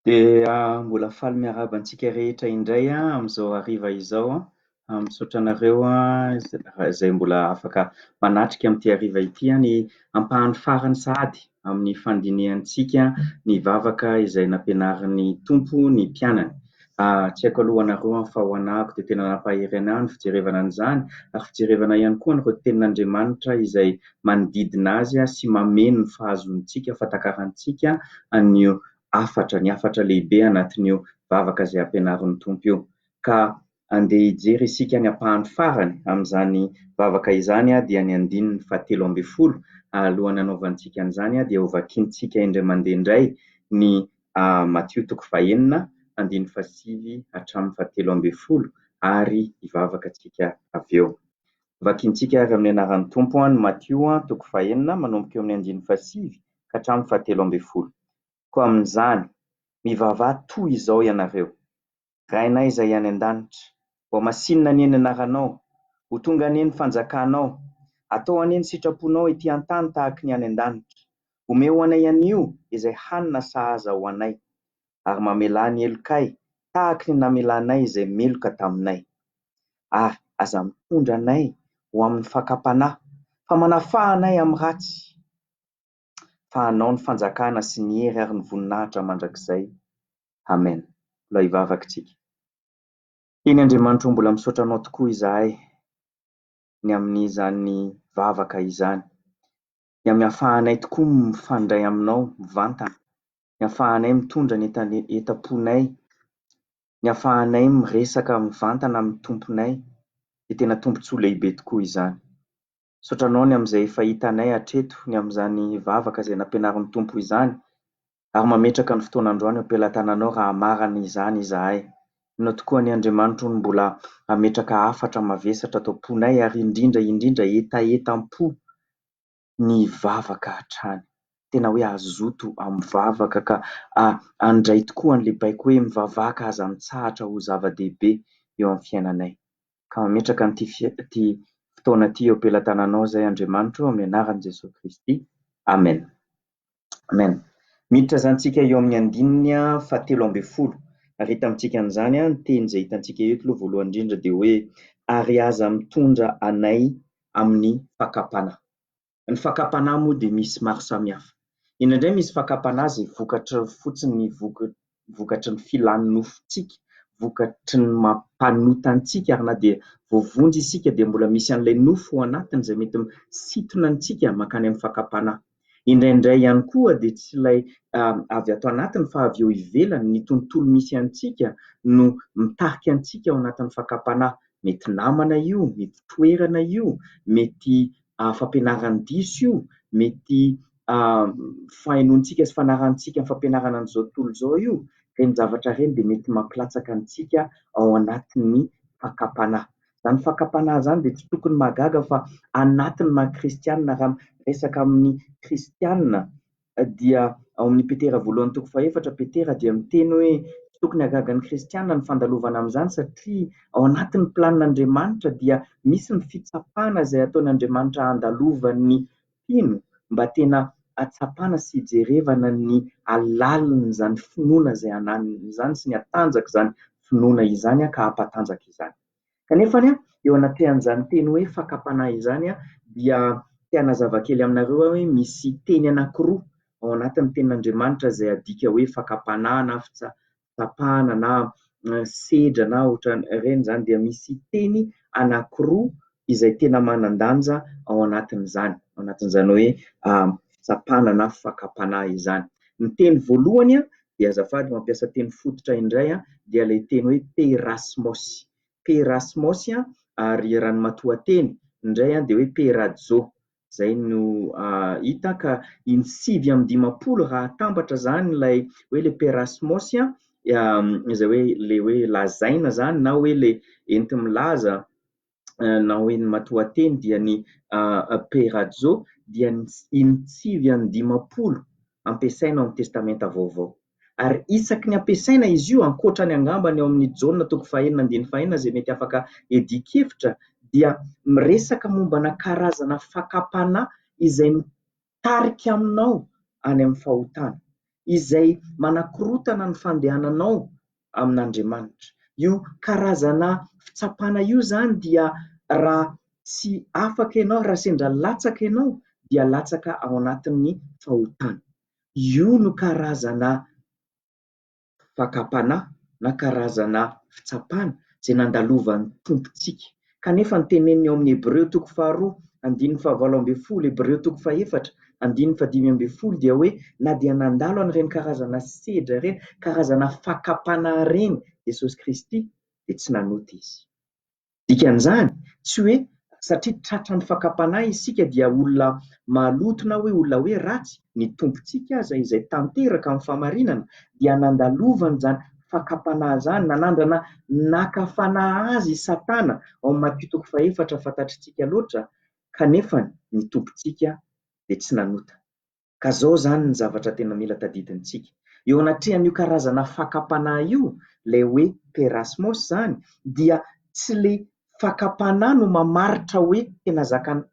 Dia mbola faly miarahaba antsika rehetra indray amin'izao hariva izao an! Misaotra anareo izay mbola afaka manatrika amin'ity hariva ity ny ampahany farany sahady amin'ny fandinihantsika ny vavaka izay nampianarin'ny Tompo ny mpianany. Ah, tsy haiko aloha ho anareo an, fa ho anahako dia tena nampahery anahy ny fijerevana an'izany, ary fijerevana ihany koa an'ireo tenin'Andriamanitra izay manodidina Azy sy mameno ny fahazoantsika fatakarantsika an'io hafatra, ny hafatra lehibe anatin'io vavaka izay ampianarin'ny Tompo io. Ka andeha hijery isika ny ampahany farany amin'izany vavaka izany an, dia ny andininy fahatelo ambin'ny folo, alohan'ny hanaovantsika an'izany dia hovakintsika indray mandeha indray ny A. Matio toko fahenina andininy fahasivy hatramin'ny fahatelo ambin'ny folo ary hivavaka antsika avy eo. Vakintsika àry amin'ny anaran'ny Tompo an, Matio toko fahenina manomboka eo amin'ny andininy fahasivy ka hatramin'ny fahatelo ambin'ny folo. Koa amin'izany, mivavaha toy izao ianareo. Rainay izay any an-danitra. Ho masinina anie ny anaranao. Ho tonga anie ny fanjakanao. Atao anie ny sitraponao ety an-tany tahaky ny any an-danitra. Omeo ho anay anio izay hanina sahaza ho anay. Ary mamelà ny helokay tahaky ny namelanay izay meloka taminay. Ary aza mitondra anay ho amin'ny fakam-panahy, fa manafaha anay amin'ny ratsy. fa hanao ny fanjakana sy ny hery ary ny voninahitra mandrakizay. Amen. Mbola hivavaka isika. Eny Andriamanitro o mbola misaotra anao tokoa izahay ny amin'izany vavaka izany, ny amin'ny afahanay tokoa mifandray aminao mivantana, ny afahanay mitondra ny entam-ponay, ny afahanay miresaka mivantana amin'ny Tomponay, dia tena tombon-tsoa lehibe tokoa izany. Misaotra Anao ny amin'izay fahita anay hatreto, ny amin'izany vavaka izay nampianarin'ny Tompo izany, ary mametraka ny fotoana androany eo am-pelatananao raha hamarana izany izahay. Inona tokoa anie Andriamanitro no mbola hametraka hafatra mavesatra ato am-ponay ary indrindra indrindra hetahetam-po ny vavaka hatrany. Tena hoe hazoto amin'ny vavaka ka handray tokoa an'ilay baiko hoe mivavaka aza mitsahatra ho zava-dehibe eo amin'ny fiainanay. ka mametraka an'ity ity fotoana ity eo am-pelatananao izay Andriamanitro amin'ny anaran'i Jesoa Kristy. Amen. Amen. Miditra izany tsika eo amin'ny andininy fahatelo ambin'ny folo. Ary hita amintsika an'izany ny teny izay hitantsika eto aloha voalohany indrindra dia hoe ary aza mitondra anay amin'ny fakam-panahy. Ny fakam-panahy moa dia misy maro samihafa. Indraindray misy fakam-panahy izay vokatry ny fotsiny ny vokatry ny filan'ny nofontsika, vokatry ny mampanota antsika ary na dia voavonjy isika dia mbola misy an'ilay nofo ao anatiny izay mety misintona antsika mankany amin'ny fakam-panahy. Indraindray ihany koa dia tsy ilay avy ato anatiny fa avy eo ivelany, ny tontolo misy antsika no mitarika antsika ao anatin'ny fakam-panahy. Mety namana io, mety toerana io, mety fampianaran'ny diso io, mety fahenoantsika sy fanarantsika ny fampianarana an'izao tontolo izao io, ireny zavatra ireny dia mety mampilatsaka antsika ao anatin'ny fakam-panahy. Izany fakam-panahy izany dia tsy tokony mahagaga fa anatin'ny maha kristianina, raha miresaka amin'ny kristianina dia ao amin'ny Petera voalohany toko fahefatra, Petera dia miteny hoe tsy tokony hahagaga ny kristiana ny fandalovana amin'izany satria ao anatin'ny planin'Andriamanitra dia misy ny fitsapana izay ataon'Andriamanitra handalovan'ny mpino mba tena hatsapana sy hijerevana ny halalin'izany finoana izay ananany izany sy ny hatanjak'izany finoana izany ka hampatanjaka izany. Kanefa anie, eo anatrehan'izany teny hoe fakam-panahy izany dia te hanazava kely aminareo aho hoe misy teny anankiroa ao anatin'ny tenin'Andriamanitra izay adika hoe fakam-panahy na fitsapana na sedra na ohatran'ireny izany dia misy teny anankiroa izay tena manan-danja ao anatin'izany, ao anatin'izany hoe fitsapana na fakam-panahy izany. Ny teny voalohany dia azafady mampiasa teny fototra indray an, dia ilay teny hoe perasmos, perasmos an, ary raha ny matoanteny indray an dia hoe perajo, izay no hita ka iny sivy amby dimampolo raha atambatra izany ilay hoe ilay perasmos an, izay hoe ilay hoe lazaina izany na hoe ilay enti-milaza nahoen'i Matoateny dia ny peirazo dia ny inotsivy an'ny dimampolo ampiasaina ao amin'ny Testamenta Vaovao. Ary isaky ny ampiasaina izy io, ankoatra ny angamba ny ao amin'ny Jaona toko fahenina andininy fahenina izay mety afaka iadian-kevitra, dia miresaka mombana karazana fakam-panahy izay tarika aminao any amin'ny fahotana, izay manakorotana ny fandehananao amin'Andriamanitra. Io karazana fitsapana io izany dia raha tsy afaka ianao, raha sendra latsaka ianao dia latsaka ao anatin'ny fahotana. Io no karazana fakam-panahy na karazana fitsapana izay nandalovan'ny Tompontsika. Kanefa ny teneniny ao amin'ny Hebreo toko faharoa, andininy fahavalo ambin'ny folo, Hebreo toko fahefatra, andininy fahadimy ambin'ny folo dia hoe na dia nandalo an'ireny karazana sedra ireny, karazana fakam-panahy ireny Jesosy Kristy dia tsy nanota Izy. Dikan'izany, tsy hoe satria tratran'ny fakam-panahy isika dia olona maloto na hoe olona hoe ratsy, ny Tompontsika aza izay tanteraka amin'ny fahamarinana dia nandalovany izany fakam-panahy izany, nanandrana naka fanahy azy i Satana, ao amin'ny Matio toko fahefatra fantatritsika loatra, kanefa ny Tompontsika dia tsy nanota. Ka zao izany ny zavatra tena mila tadidintsika. Eo anatrehan'io karazana fakam-panahy io, ilay hoe perasmos izany, dia tsy ilay fakam-panahy no mamaritra hoe tena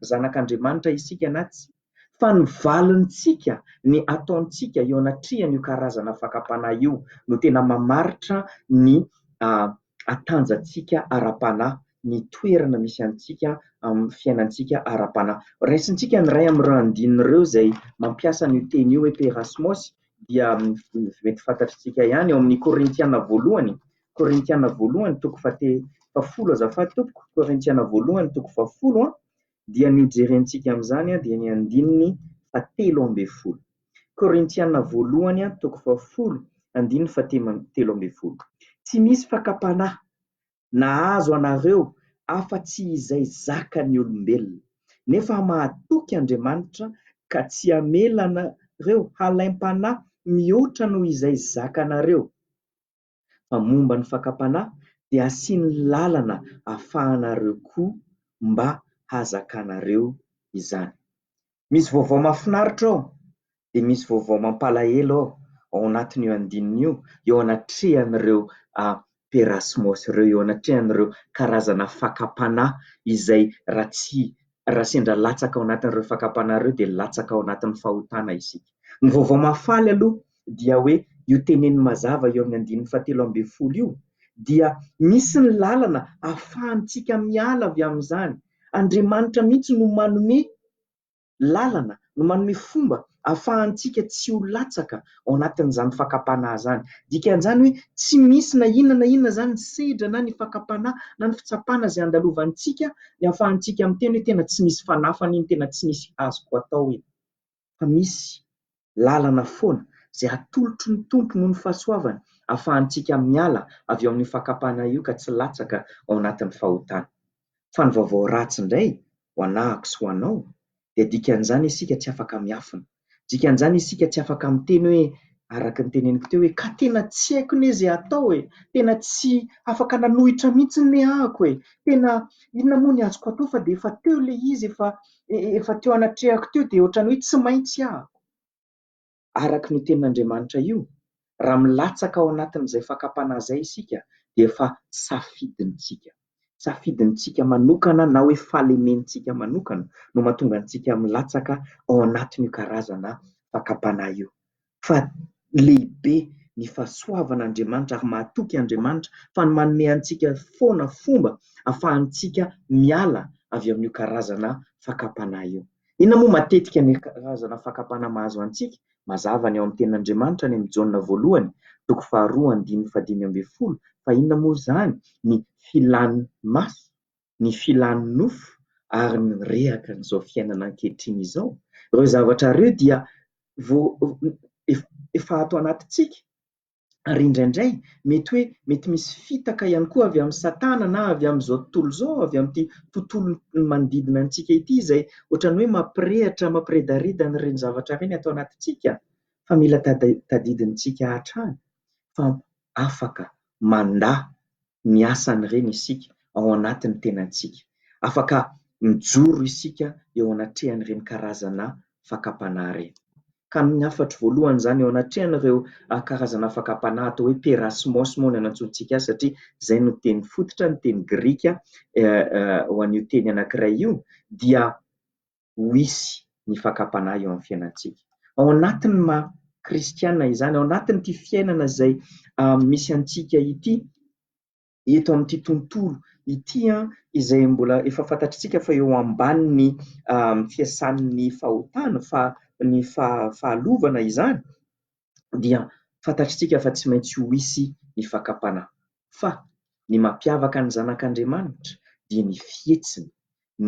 zanak'Andriamanitra isika na tsia, fa ny valintsika, ny ataontsika eo anatrehan'io karazana fakam-panahy io no tena mamaritra ny hatanjantsika ara-panahy, ny toerana misy antsika amin'ny fiainantsika ara-panahy. Raisintsika ny iray amin'ireo andininy ireo izay mampiasa an'io teny io hoe peirasmos dia mety fantatritsika ihany ao amin'ny Korintiana voalohany, Korintiana voalohany toko fahate- fahafolo azafady tompoko, Korintiana voalohany toko fahafolo an, dia ny hojerentsika amin'izany dia ny andininy fahatelo ambin'ny folo. Korintiana voalohany toko fahafolo andininy fahatelo ambin'ny folo. Tsy misy fakam-panahy nahazo anareo afa-tsy izay zakan'ny olombelona. Nefa mahatoky Andriamanitra ka tsy hamela anareo halaim-panahy mihoatra noho izay zakanareo. fa momba ny fakam-panahy dia asiany lalana afahanareo koa mba hazakanareo izany. Misy vaovao mahafinaritra ao dia misy vaovao mampalahelo ao ao anatin'io andininy io eo anatrehan'ireo perasmos ireo, eo anatrehan'ireo karazana fakam-panahy izay raha tsy, raha sendra latsaka ao anatin'ireo fakam-panahy ireo dia latsaka ao anatin'ny fahotana isika. Ny vaovao mahafaly aloha dia hoe io teneniny mazava eo amin'ny andininy fahatelo ambin'ny folo io dia misy ny lalana ahafahantsika miala avy amin'izany. Andriamanitra mihitsy no manome lalana, no manome fomba ahafahantsika tsy ho latsaka ao anatin'izany fakam-panahy izany. Dikan'izany hoe tsy misy na inona na inona izany ny sedra na ny fakam-panahy na ny fitsapana izay andalovantsika ny ahafahantsika miteny hoe tena tsy misy fanafana iny, tena tsy misy azoko atao iny. fa misy lalana foana izay atolotry ny Tompo noho ny fahasoavany afahantsika miala avy ao amin'io fakam-panahy io ka tsy latsaka ao anatin'ny fahotana. Fa ny vaovao ratsy indray ho anahako sy ho anao dia dikan'izany isika tsy afaka miafina. Dikan'izany isika tsy afaka miteny hoe araka ny teneniko teo hoe ka tena tsy haiko ne izay hatao e! Tena tsy afaka nanohitra mihitsy ne ahako e! Tena inona moa ny azoko atao fa dia efa teo ilay izy efa efa teo anatrehako teo dia ohatran'ny hoe tsy maintsy ahako, araka an'io tenin'Andriamanitra io, raha milatsaka ao anatin'izay fakam-panahy izay isika dia efa safidintsika. Safidintsika manokana na hoe falementsika manokana no mahatonga antsika milatsaka ao anatin'io karazana fakam-panahy io. fa lehibe ny fahasoavan'Andriamanitra ary mahatoky Andriamanitra fa ny manome antsika foana fomba afahantsika miala avy amin'io karazana fakam-panahy io. Inona moa matetika ny karazana fakam-panahy mahazo antsika? Mazava ny ao amin'ny Tenin'Andriamanitra any amin'ny Jaona voalohany, toko faharoa andininy fahadimy ambin'ny folo, fa inona moa izany ny filan'ny maso? ny filan'ny nofo ary ny rehaka an'izao fiainana ankehitriny izao, ireo zavatra ireo dia efa ato anatintsika ary indraindray mety hoe mety misy fitaka ihany koa avy amin'i satana na avy amin'izao tontolo izao, avy amin'ity tontolo manodidina antsika ity izay ohatran'ny hoe mampirehitra, mampiredareda an'ireny zavatra ireny ato anatintsika fa mila tadidintsika hatrany fa afaka mandà miasa an'ireny isika ao anatin'ny tenantsika. Afaka mijoro isika eo anatrehan'ireny karazana fakam-panahy ireny. Ka amin'ny hafatro voalohany izany, eo anatrehan'ireo karazana fakam-panahy atao hoe pera smos moa no anantsointsika azy satria izay no teny fototra, ny teny grika ho an'io teny anankiray io, dia ho hisy ny fakam-panahy eo amin'ny fiainantsika. Ao anatin'ny maha kristiana izany, ao anatin'ity fiainana izay misy antsika ity, eto amin'ity tontolo ity izay mbola efa fantatritsika fa eo ambanin'ny fiasan'ny fahotana, ny fahalovana izany, dia fantatritsika fa tsy maintsy ho hisy ny fakam-panahy. Fa ny mampiavaka ny zanak'Andriamanitra dia ny fihetsiny,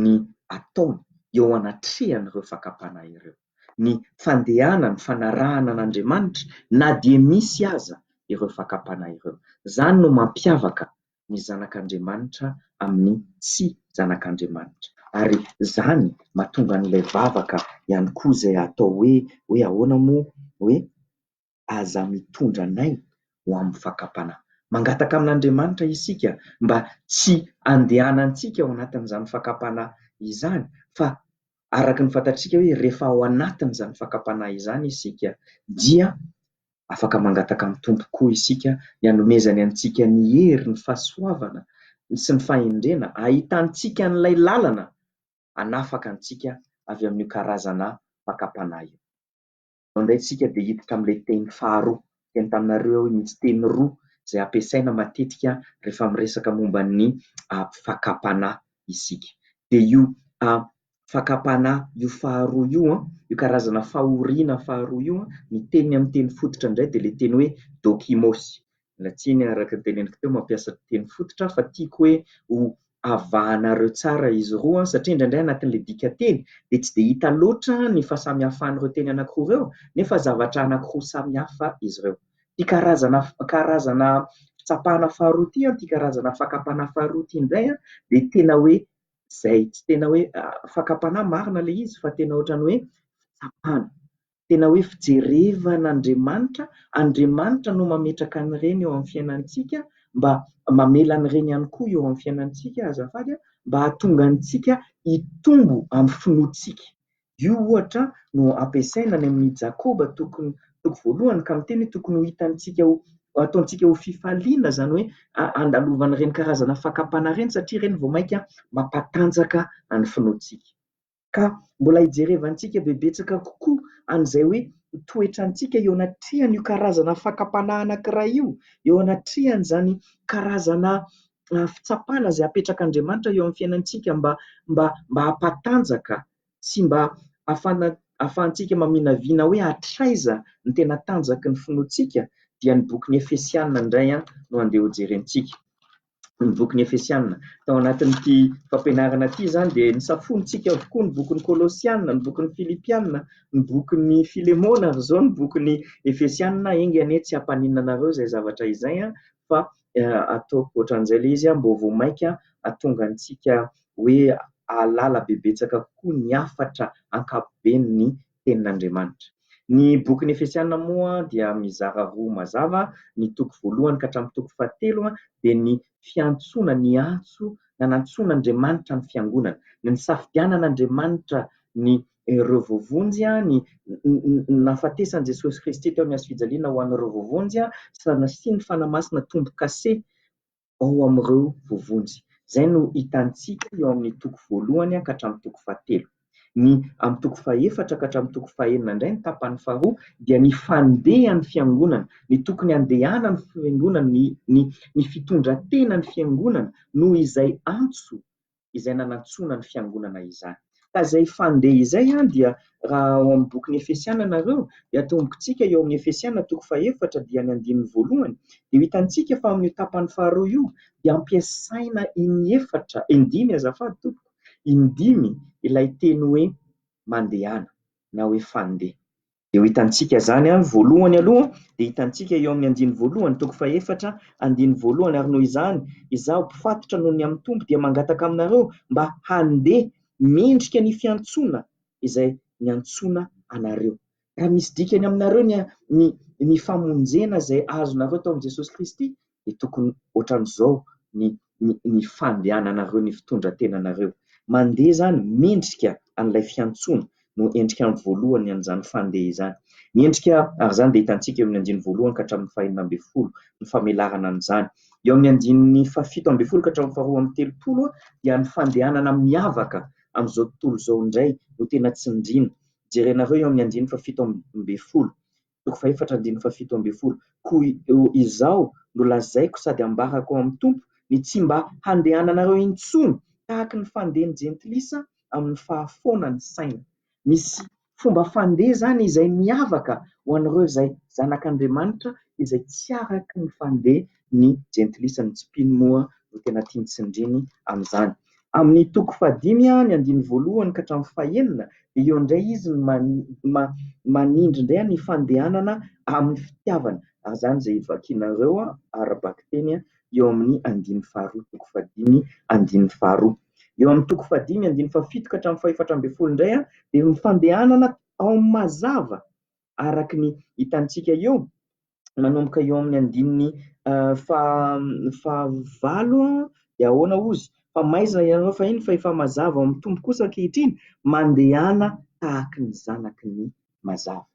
ny ataony eo anatrehan'ireo fakam-panahy ireo, ny fandehanany, fanarahana an'Andriamanitra na dia misy aza ireo fakam-panahy ireo. Izany no mampiavaka ny zanak'Andriamanitra amin'ny tsy zanak'Andriamanitra. Ary izany mahatonga an'ilay vavaka ihany koa izay atao hoe, hoe ahoana moa? hoe Aza mitondra anay ho amin'ny fakam-panahy. Mangataka amin'Andriamanitra isika mba tsy handehanantsika ao anatin'izany fakam-panahy izany, fa araka ny fantatsika hoe rehefa ao anatin'izany fakam-panahy izany isika dia Afaka mangataka amin'ny Tompo koa isika ny hanomezany antsika ny hery, ny fahasoavana sy ny fahendrena hahitantsika an'ilay lalana hanafaka antsika avy amin'io karazana fakam-panahy io. Izao indray isika dia hiditra amin'ilay teny faharoa. Teny taminareo aho io mihitsy, teny roa izay ampiasaina matetika rehefa miresaka momba ny fakam-panahy isika. Dia io fakam-panahy io faharoa io an, io karazana fahoriana faharoa io an, ny teniny amin'ny teny fototra indray dia ilay teny hoe dokimos, miala tsiny araka ny teneniko teo mampiasa teny fototra aho fa tiako hoe ho avahanareo tsara izy roa an, satria indraindray anatin'ilay dikanteny dia tsy dia hita loatra ny fahasamihafan'ireo teny anankiroa ireo nefa zavatra anankiroa samihafa izy ireo. Ity karazana karazana fitsapana faharoa ity an, ity karazana fakam-panahy faharoa ity indray an dia tena hoe izay tsy tena hoe fakam-panahy marina ilay izy fa tena ohatran'ny hoe fitsapana, tena hoe fijerevana Andriamanitra, Andriamanitra no mametraka an'ireny eo amin'ny fiainantsika mba mamela an'ireny ihany koa eo amin'ny fiainantsika azafady mba hahatonga antsika hitombo amin'ny finoantsika, Io, ohatra, no ampiasaina any amin'i Jakoba toko voalohany, ka miteny hoe tokony ho hitantsika ho, ataontsika ho fifaliana, izany hoe handalovana ireny karazana fakam-panahy ireny, satria ireny vao mainka mampatanjaka ny finoantsika. Ka mbola hijerevantsika be betsaka kokoa an'izay hoe ny toetrantsika eo anatrehan'io karazana fakam-panahy anankiray io, eo anatrehan'izany karazana fitsapana izay apetrak'Andriamanitra eo amin'ny fiainantsika mba hampatanjaka sy mba afana afahantsika maminavina hoe hatraiza ny tena tanjaky ny finoantsika dia ny bokin'ny Efesiana indray an no andeha ho jerentsika ny bokin'ny Efesiana tao anatin'ity fampianarana ity izany dia ny safonintsika avokoa ny bokin'ny Kolosiana ny bokin'ny Filipiana ny bokin'ny Filemona ary izao ny bokin'ny Efesiana enga anie tsy hampaninona anareo izay zavatra izay an fa ataoko ohatran'izay ilay izy mba vao mainka hahatonga antsika hoe hahalala bebetsaka kokoa ny hafatra ankapobeny ny tenin'Andriamanitra. Ny bokin'ny Efesiana moa dia mizara roa mazava, ny toko voalohany ka hatramin'ny toko fahatelo dia ny fiantsoana, ny antso nanantsoin'Andriamanitra ny fiangonana, ny nisafidianan'Andriamanitra ny ireo voavonjy, ny nahafatesan'i Jesosy Kristy teo amin'ny hazo fijaliana ho an'ireo voavonjy sy ny nasian'ny Fanahy Masina tombo-kase ao amin'ireo voavonjy. Izay no hitantsika eo amin'ny toko voalohany ka hatramin'ny toko fahatelo. Ny amin'ny toko fahefatra ka hatramin'ny toko fahenina indray, ny tapany faharoa, dia ny fandehan'ny Fiangonana, ny tokony handehanan'ny Fiangonana, ny fitondran-tenan'ny Fiangonana noho izay antso izay nanantsoana ny fiangonana izany. Ka izay fandeha izay dia raha ao amin'ny bokin'ny Efesiana nareo dia atombontsika eo amin'ny Efesiana toko fahefatra dia ny andininy voalohany dia hitantsika fa amin'io tapany faharoa io dia ampiasaina iny efatra, iny dimy azafady tompoko, iny dimy ilay teny hoe mandehana na hoe fandeha. Dia ho hitantsika izany an, voalohany aloha dia hitantsika eo amin'ny andiny voalohany toko fahefatra andiny voalohany ary noho izany izaho mpifatotra noho ny amin'ny Tompo dia mangataka aminareo mba handeha mendrika ny fiantsoana izay niantsoana anareo. Raha misy dikany aminareo ny ny famonjena izay azonareo tao amin'i Jesosy Kristy dia tokony ohatran'izao ny ny ny fandehananareo ny fitondran-tenanareo. Mandeha izany mendrika an'ilay fiantsoana no endrika voalohany an'izany fandeha izany. Ny endrika ary izany dia hitantsika eo amin'ny andininy voalohany ka hatramin'ny fahenina ambin'ny folo ny famelarana an'izany. Eo amin'ny andininy fahafito ambin'ny folo ka hatramin'ny faharoa amby telopolo dia ny fandehanana miavaka amin'izao tontolo izao indray no tena tsindriana. Jerenareo eo amin'ny andininy fahafito ambin'ny folo. toko fahefatra andininy fahafito ambin'ny folo, Koa izao no lazaiko sady ambarako ao amin'ny Tompo, ny tsy mba handehananareo intsony tahaka ny fandehan'ny jentilisa amin'ny fahafoana ny saina. Misy fomba fandeha izany izay miavaka ho an'ireo izay zanak'Andriamanitra izay tsy araka ny fandeha ny jentilisa, ny tsy mpino moa no tena tiany tsindriany amin'izany. Amin'ny toko fahadimy ny andininy voalohany ka hatramin'ny fahenina dia eo indray izy no manindry indray ny fandehanana amin'ny fitiavana, ary izany izay vakinareo ara-bakiteny eo amin'ny andininy faharoa toko fahadimy andininy faharoa. Eo amin'ny toko fahadimy andininy fahafito ka hatramin'ny fahefatra ambin'ny folo indray dia ny fandehanana ao amin'ny mazava araka ny hitantsika eo, manomboka eo amin'ny andininy fahavalo dia ahoana hozy, fa maizina ianareo fahiny fa efa mazava ao amin'ny Tompo kosa ankehitriny, mandehana tahaka ny zanaky ny mazava.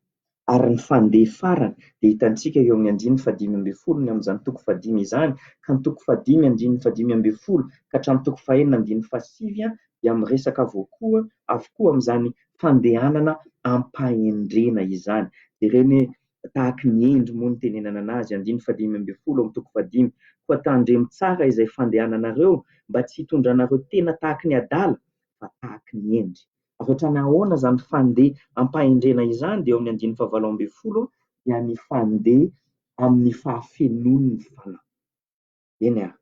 Ary ny fandeha farany dia hitantsika eo amin'ny andininy fahadimy ambin'ny folo ny amin'izany toko fahadimy izany ka ny toko fahadimy andininy fahadimy ambin'ny folo ka hatramin'ny toko fahenina andininy fahasivy dia miresaka avokoa avokoa amin'izany fandehanana am-pahendrena izany. Jerena e, tahaky ny hendry moa ny itenenana anazy, andininy fahadimy ambin'ny folo ao amin'ny toko fahadimy, koa tandremo tsara izay fandehananareo mba tsy hitondranareo tena tahaky ny adala fa tahaky ny hendry. Avy hatrany ahoana izany fandeha am-pahendrena izany dia eo amin'ny andininy fahavalo ambin'ny folo dia ny fandeha amin'ny fahafenoan'ny fanahy. Eny ary,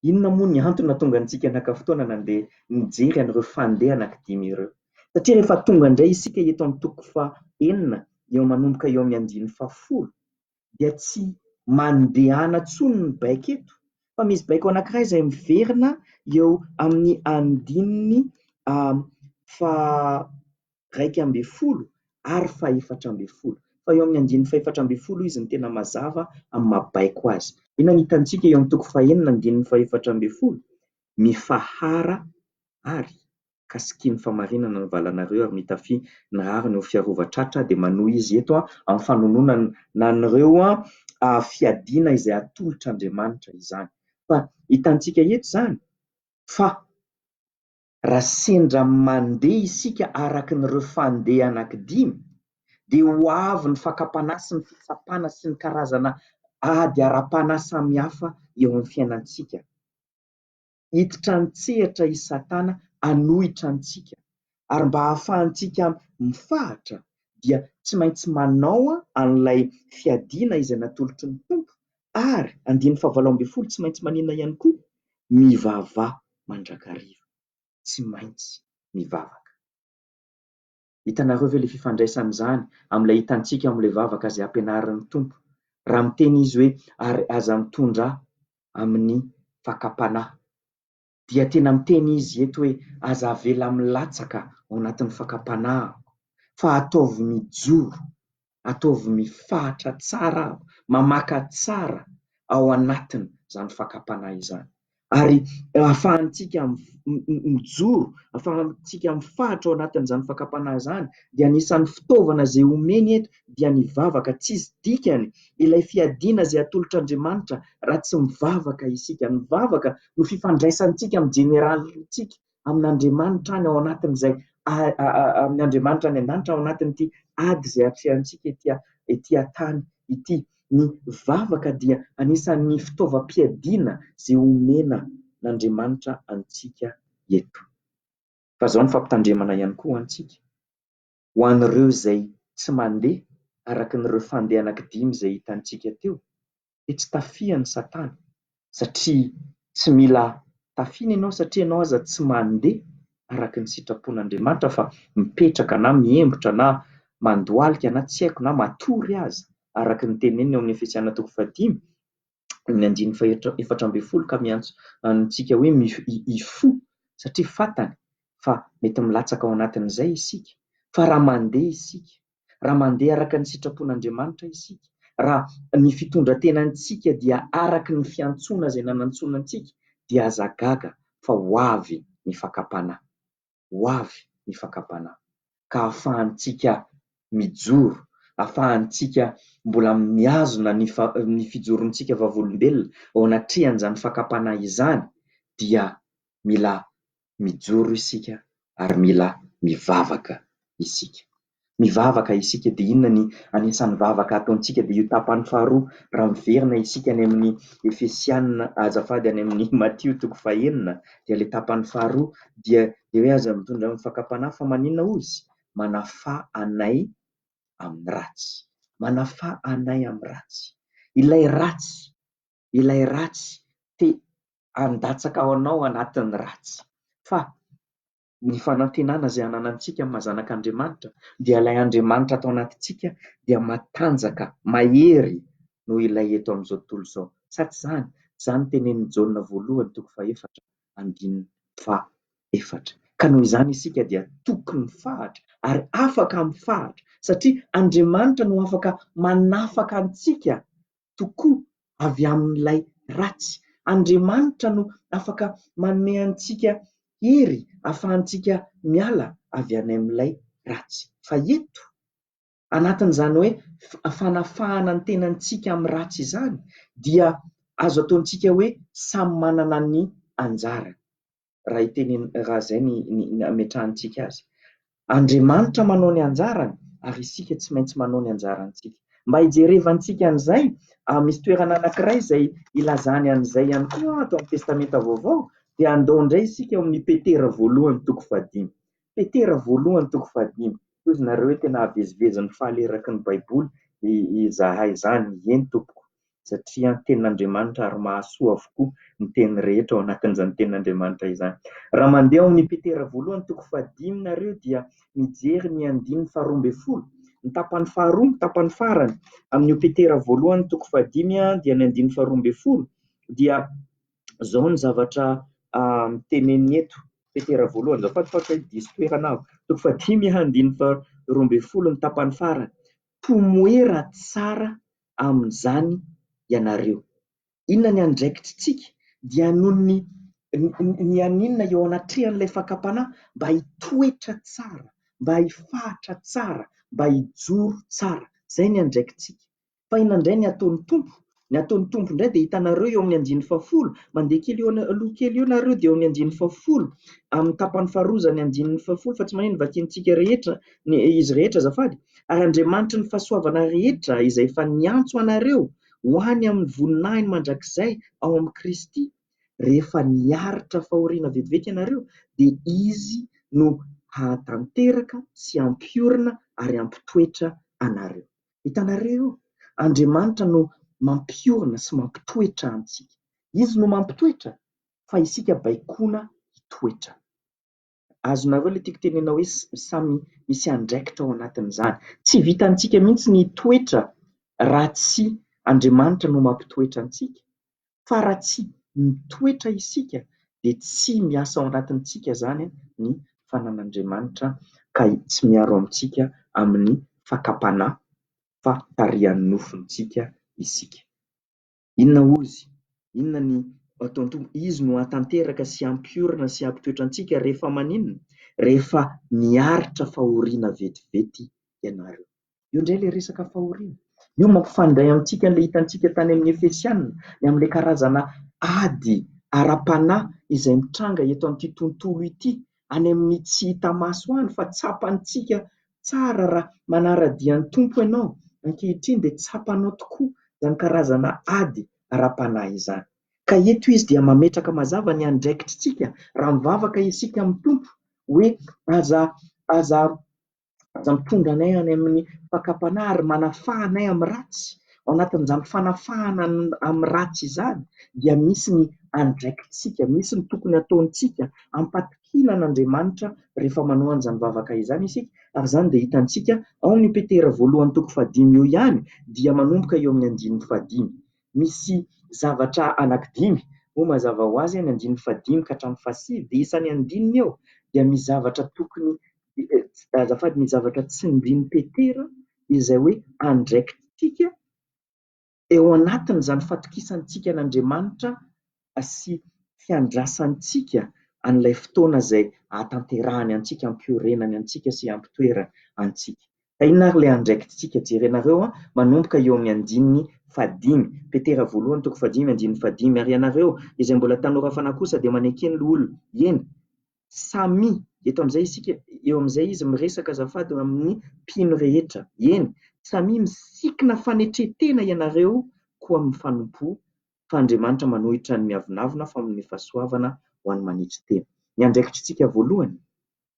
inona moa ny antony nahatonga antsika naka fotoana nandeha nijery an'ireo fandeha anankidimy ireo? Satria rehefa tonga indray isika eto amin'ny toko fahenina eo manomboka eo amin'ny andininy fahafolo dia tsy mandehana intsony ny baiko eto fa misy baiko anankiray izay miverina eo amin'ny andininy faha iraika ambin'ny folo ary fahefatra ambin'ny folo. Fa eo amin'ny andininy fahefatra ambin'ny folo izy no tena mazava amin'ny maha baiko azy. Inona no hitantsika eo amin'ny toko fahenina andininy fahefatra ambin'ny folo? Mifahara ary ka sikin'ny famarinana ny valanareo ary mitafia ny rariny ho fiarova tratra dia manohy izy eto amin'ny fanononana na an'ireo fiadiana izay atolotr'Andriamanitra izany. Fa hitantsika eto izany fa. Raha sendra mandeha isika araka ny ireo fandeha anaky dimy dia ho avy ny fakam-panahy sy ny fitsapana sy ny karazana ady ara-panahy samy hafa eo amin'ny fiainantsika. Hiditra an-tsehatra i Satana hanohitra antsika ary mba hahafahantsika mifahatra dia tsy maintsy manao an'ilay fiadiana izay natolotry ny Tompo ary andininy fahavalo ambin'ny folo tsy maintsy maninona ihany koa? mivavà mandrakariva, tsy maintsy mivavaka. Hitanareo ve ilay fifandraisan'izany amin'ilay hitantsika ao amin'ilay vavaka izay ampianarin'ny Tompo, raha miteny Izy hoe ary aza mitondrà amin'ny fakam-panahy. dia tena miteny izy eto hoe aza avela milatsaka ao anatin'ny fakam-panahy aho, fa ataovy mijoro, ataovy mifahatra tsara aho, mamaka tsara ao anatin' izany fakam-panahy izany. Ary ahafahantsika mijoro, ahafahantsika mifahatra ao anatin'izany fakam-panahy izany dia anisan'ny fitaovana izay omeny eto dia nivavaka, tsisy dikany ilay fiadiana izay atolotra Andriamanitra raha tsy mivavaka isika, ny vavaka no fifandraisantsika amin'ny Jeneralintsika, amin' Andriamanitra any ao anatin'izay amin' Andriamanitra any an-danitra ao anatin'ity ady izay atrehantsika ety ety an-tany ity, ny vavaka dia anisan'ny fitaovam-piadiana izay omena n'Andriamanitra antsika eto. Fa izao ny fampitandremana ihany koa ho antsika. Ho an'ireo izay tsy mandeha araka an'ireo fandeha anankidimy izay hitantsika teo dia tsy tafihan'i Satana satria tsy mila tafiana ianao satria ianao aza tsy mandeha araka ny sitrapon'Andriamanitra fa mipetraka na mihembotra na mandohalika na tsy haiko na matory aza araka ny teneniny ao amin'ny Efesiana toko fahadimy ny andininy faha efatra ambin'ny folo ka miantso antsika hoe hifoha satria fantany fa mety milatsaka ao anatin'izay isika. Fa raha mandeha isika, raha mandeha araka ny sitrapon'Andriamanitra isika, raha ny fitondran-tenantsika dia araka ny fiantsoana izay nanantsoina antsika dia aza gaga fa ho avy ny fakam-panahy. ho avy ny fakam-panahy, ka afahantsika mijoro, afahantsika mbola mihazona ny ny fijorontsika vavolombelona eo anatrehan'izany fakam-panahy izany, dia mila mijoro isika ary mila mivavaka isika. Mivavaka isika dia inona ny anisan'ny vavaka ataontsika dia io tapany faharoa raha miverina isika any amin'ny Efesiana azafady any amin'ny Matio toko fahenina dia ilay tapany faharoa dia dia hoe aza mitondra amin'ny fakam-panahy fa maninona ozy? Manafà anay amin'ny ratsy. Manafà anay amin'ny ratsy. Ilay ratsy, ilay ratsy te handatsaka anao anatin'ny ratsy. Fa Ny fanantenana izay ananantsika amin'ny maha-zanak' Andriamanitra dia ilay Andriamanitra ato anatintsika dia matanjaka, mahery noho ilay eto amin'izao tontolo izao. Sa tsy izany? Izany no tenenin'i Jaona voalohany toko fahefatra andininy faha efatra. Ka noho izany isika dia tokony mifahatra ary afaka mifahatra satria Andriamanitra no afaka manafaka antsika tokoa avy amin'ilay ratsy. Andriamanitra no afaka manome antsika hery ahafahantsika miala avy any amin'ilay ratsy. Fa eto, anatin'izany hoe fanafahana ny tenantsika amin'ny ratsy izany, dia azo ataontsika hoe samy manana ny anjarany. raha hiteny raha izay ny ny ametrahantsika azy. Andriamanitra manao ny anjarany ary isika tsy maintsy manao ny anjarantsika. Mba hijerevantsika an'izay, misy toerana anankiray izay ilazany an'izay ihany koa ato amin'ny Testamenta Vaovao, dia andao indray isika ao amin'ny Petera voalohany toko fahadimy. Petera voalohany toko fahadimy, Hoy izy nareo hoe tena hahavezivezy ny faly eraky ny Baiboly izahay izany, eny tompoko, satria ny tenin'Andriamanitra ary mahasoa avokoa ny teny rehetra ao anatin'izany tenin'Andriamanitra izany. Raha mandeha ao amin'ny Petera voalohany toko fahadimy nareo dia mijery ny andininy faharoa ambin'ny folo, ny tapany faharoa, ny tapany farany amin'io Petera voalohany toko fahadimy dia ny andininy faharoa ambin'ny folo dia izao ny zavatra teneniny eto, Petera voalohany, izao fatifaty hoe diso toerana aho, toko fahadimy andininy faharoa ambin'ny folo ny tapany farany, tomoera tsara amin'izany ianareo. Inona ny andraikitritsika? Dia noho ny ny haninona eo anatrehan'ilay fakam-panahy? Mba hitoetra tsara, mba hifahatra tsara, mba hijoro tsara. Izay ny andraikitsika. fa inona indray ny ataon'ny Tompo? Ny ataon'ny Tompo indray dia hitanareo eo amin'ny andininy fahafolo, mandeha kely eo aloha kely eo nareo dia eo amin'ny andininy fahafolo, amin'ny tapany faharoa izany andininy fahafolo fa tsy mahay ny vakiantsika rehetra, ny izy rehetra azafady, ary Andriamanitry ny fahasoavana rehetra izay efa niantso anareo ho any amin'ny voninahiny mandrakizay ao amin'i Kristy, rehefa niaritra fahoriana vetivety ianareo dia Izy no hahatanteraka sy hampiorina ary hampitoetra anareo. Hitanareo? Andriamanitra no mampiorina sy mampitoetra antsika. Izy no mampitoetra fa isika baikoina hitoetra. Azonareo ilay tiako tenenina hoe samy misy andraikitra ao anatin'izany. Tsy vitantsika mihitsy ny hitoetra raha tsy Andriamanitra no mampitoetra antsika. fa raha tsy mitoetra isika dia tsy miasa ao anatintsika izany ny fanan'Andriamanitra ka tsy miaro amintsika amin'ny fakam-panahy fa tarihan'ny nofontsika isika. Inona ozy? Inona ny ataon'ny Tompo? Izy no hahatanteraka sy hampiorina sy hampitoetra antsika rehefa maninona? Rehefa miaritra fahoriana vetivety ianareo. Eo indray ilay resaka fahoriana. Io mampifandray amintsika an'ilay hitantsika tany amin'ny Efesiana, ny amin'ilay karazana ady ara-panahy izay mitranga eto amin'ity tontolo ity, any amin'ny tsy hita maso any fa tsapantsika tsara raha manara-dia ny Tompo ianao ankehitriny dia tsapanao tokoa izany karazana ady ara-panahy izany. Ka eto izy dia mametraka mazava ny andraikitritsika raha mivavaka isika amin'ny Tompo hoe aza aza Aza mitondra anay any amin'ny fakam-panahy ary manafaha anay amin'ny ratsy. Ao anatin'izany fanafahana amin'ny ratsy izany dia misy ny andraikitsika, misy ny tokony hataontsika. Ampatokiana an'Andriamanitra rehefa manao an'izany vavaka izany isika ary izany dia hitantsika ao amin'io Petera voalohany toko fahadimy io ihany dia manomboka eo amin'ny andininy fahadimy. Misy zavatra anankidimy moa mazava ho azy, ny andininy fahadimy ka hatramin'ny fahasivy dia isan'ny andininy eo dia misy zavatra tokony azafady, ny zavatra tsindrin'i Petera izay hoe andraikitrika eo anatin'izany fatokisantsika an'Andriamanitra sy fiandrasantsika an'ilay fotoana izay hahatanterahany antsika, hampiorenany antsika sy hampitoerany antsika. Ka inona ary ilay andraikitrika? Jerenareo an, manomboka eo amin'ny andininy fahadimy, Petera voalohany toko fahadimy andininy fahadimy, ary ianareo izay mbola tanora fanahy kosa dia manekeny loholona, eny, Samy, eto amin'izay isika, eo amin'izay izy miresaka azafady amin'ny mpino rehetra, eny, samia misikina fanetren-tena ianareo koa mifanompoa, fa Andriamanitra manohitra ny miavonavona fa manome fahasoavana ho an'ny manetry tena. Ny andraikitr'isika voalohany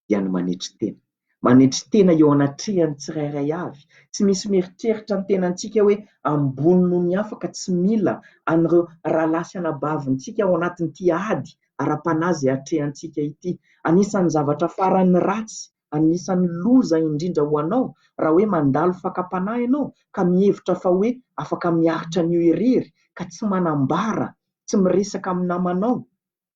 dia ny manetry tena. Manetry tena eo anatrehan'ny tsirairay avy. Tsy misy mieritreritra ny tenantsika hoe ambony noho ny hafa ka tsy mila an'ireo rahalahy sy anabavintsika ao anatin'ity ady ara-panahy izay atrehantsika ity. Anisan'ny zavatra farany ratsy, anisan'ny loza indrindra ho anao raha hoe mandalo fakam-panahy ianao ka mihevitra fa hoe afaka miaritra an'io irery ka tsy manambara, tsy miresaka amin'ny namanao.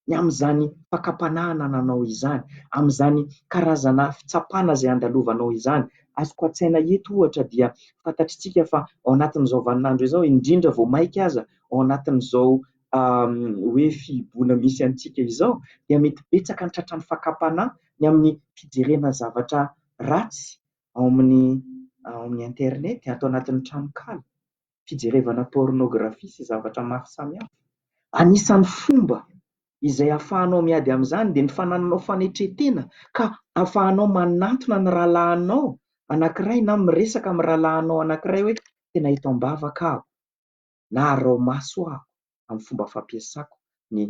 ny amin'izany fakam-panahy anananao izany, amin'izany karazana fitsapana izay andalovanao izany. Azoko an-tsaina eto ohatra dia fantatr'itsika fa ao anatin'izao vaninandro izao, indrindra vao maika aza ao anatin'izao hoe fihiboana misy antsika izao dia mety betsaka ny tratran'ny fakam-panahy ny amin'ny fijerena zavatra ratsy ao amin'ny internet, ato anatin'ny tranonkala. fijerevana pornographie sy zavatra maro samihafa. Anisan'ny fomba izay afahanao miady amin'izany dia ny fanananao fanetren-tena ka afahanao manantona ny rahalahinao anankiray na miresaka amin'ny rahalahinao anankiray hoe tena ito am-bavaka aho na arao maso aho. amin'ny fomba fampiasako ny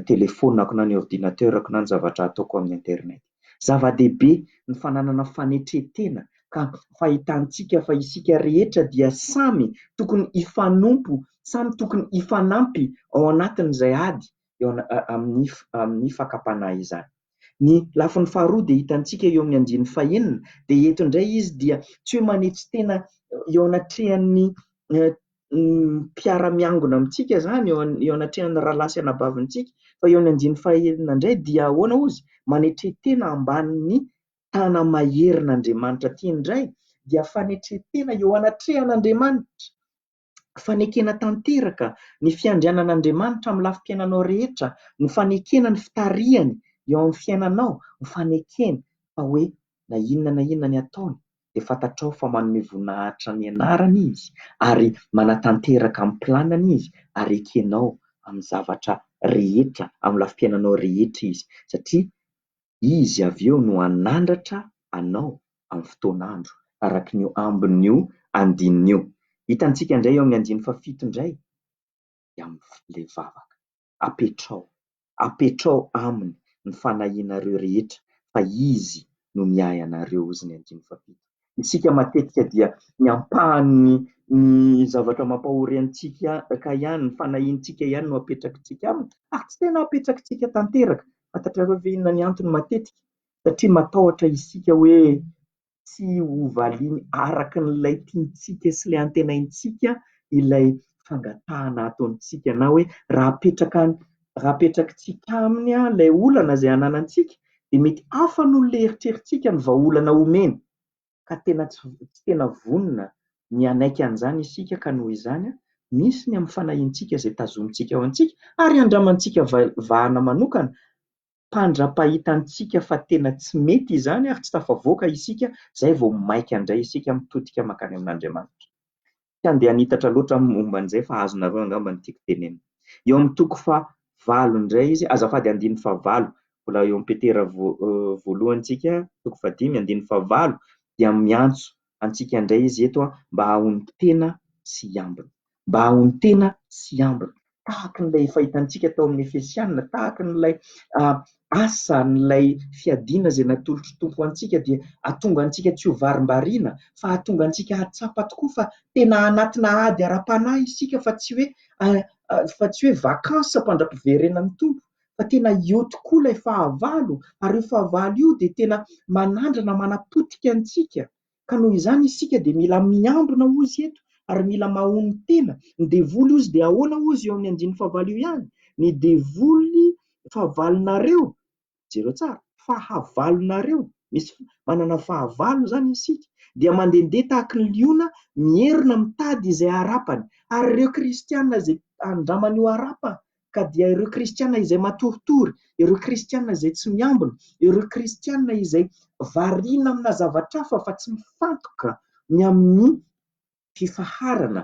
telefaoniko na ny ordinateur-ko na ny zavatra ataoko amin'ny internet. Zava-dehibe ny fananana fanetren-tena ka fahitantsika fa isika rehetra dia samy tokony hifanompo, samy tokony hifanampy ao anatin'izay ady eo amin'ny amin'ny fakam-panahy izany. Ny lafiny faharoa dia hitantsika eo amin'ny andininy fahenina, dia eto indray izy dia tsy hoe manetry tena eo anatrehan'ny mpiara-miangona amintsika izany, eo anatrehan'ny rahalahy sy anabavintsika, fa eo amin'ny andininy fahaenina indray dia ahoana hozy? Manetren-tena ambanin'ny tana-maherin'Andriamanitra. Ity indray dia fanetren-tena eo anatrehan'Andriamanitra. fanekena tanteraka ny fiandrianan'Andriamanitra amin'ny lafim-piainanao rehetra, ny fanekena ny fitarihany eo amin'ny fiainanao, ny fanekena fa hoe na inona na inona ny ataony dia fantatrao fa manome voninahitra ny anarany izy ary manatanteraka amin'ny planiny izy ary ekenao amin'ny zavatra rehetra, amin'ny lafim-piainanao rehetra izy satria Izy avy eo no hanandratra anao amin'ny fotoan'andro, araka ny eo ambin'io andininy io. Hitantsika indray eo amin'ny andininy fahafito indray dia amin'ilay vavaka. Apetraho, apetraho Aminy ny fanahianareo rehetra, fa Izy no miahy anareo, hozy ny andininy fahafito. isika matetika dia ny ampahan'ny ny zavatra mampahory antsika ka ihany, ny fanahiantsika ihany no apetrakitsika aminy ary tsy tena apetrakitsika tanteraka. Fantatrareo ve inona ny antony matetika? Satria matahotra isika hoe tsy ho valiany araka an'ilay tiantsika sy ilay antenaintsika ilay fangatahana ataontsika na hoe raha apetraka any raha apetrakitsika aminy ilay olana izay ananantsika dia mety hafa noho ilay eritreritsika ny vahaolana omeny ka tena tsy tsy tena vonona ny hanaiky an'izany isika ka noho izany misy ny amin'ny fanahintsika izay tazomintsika ao amintsika ary andramantsika vahana manokana mpandrapahita antsika fa tena tsy mety izany ary tsy tafavoaka isika izay vao maika indray isika mitodika makany amin'Andriamanitra. Tsy handeha hanitatra loatra aho momba an'izay fa azonareo angamba ny tiako tenenina. Eo amin'ny toko faha valo indray izy, azafady andininy faha valo, mbola eo amin'ny Petera voalohantsika, toko faha dimy, andininy faha valo, dia miantso antsika indray izy eto mba hahahonon-tena sy hiambina. Mba hahahonon-tena sy hiambina. tahaka an'ilay efa hitantsika tao amin'ny Efesiana, tahaka an'ilay asa, an'ilay fiadiana izay natolotr'i Tompo ho antsika dia hahatonga antsika tsy ho varimbariana fa hahatonga antsika hahatsapa tokoa fa tena anatina ady ara-panahy isika fa tsy hoe fa tsy hoe vacances mpandra-piverenan'ny Tompo fa tena eo tokoa ilay fahavalo ary io fahavalo io dia tena manandrana manapotika antsika Ka noho izany isika dia mila miambina hozy eto ary mila mahony tena. Ny devoly hozy dia ahoana hozy eo amin'ny andininy fahavalo io ihany? Ny devoly fahavalonareo, jereo tsara, fahavalonareo, misy manana fahavalo izany isika, dia mandehandeha tahaka ny liona mierona mitady izay harapany. Ary ireo kristiana izay andramany ho harapany ka dia ireo kristiana izay matoritory, ireo kristiana izay tsy miambina, ireo kristiana izay variana amina zavatra hafa fa tsy mifantoka ny amin'ny fifaharana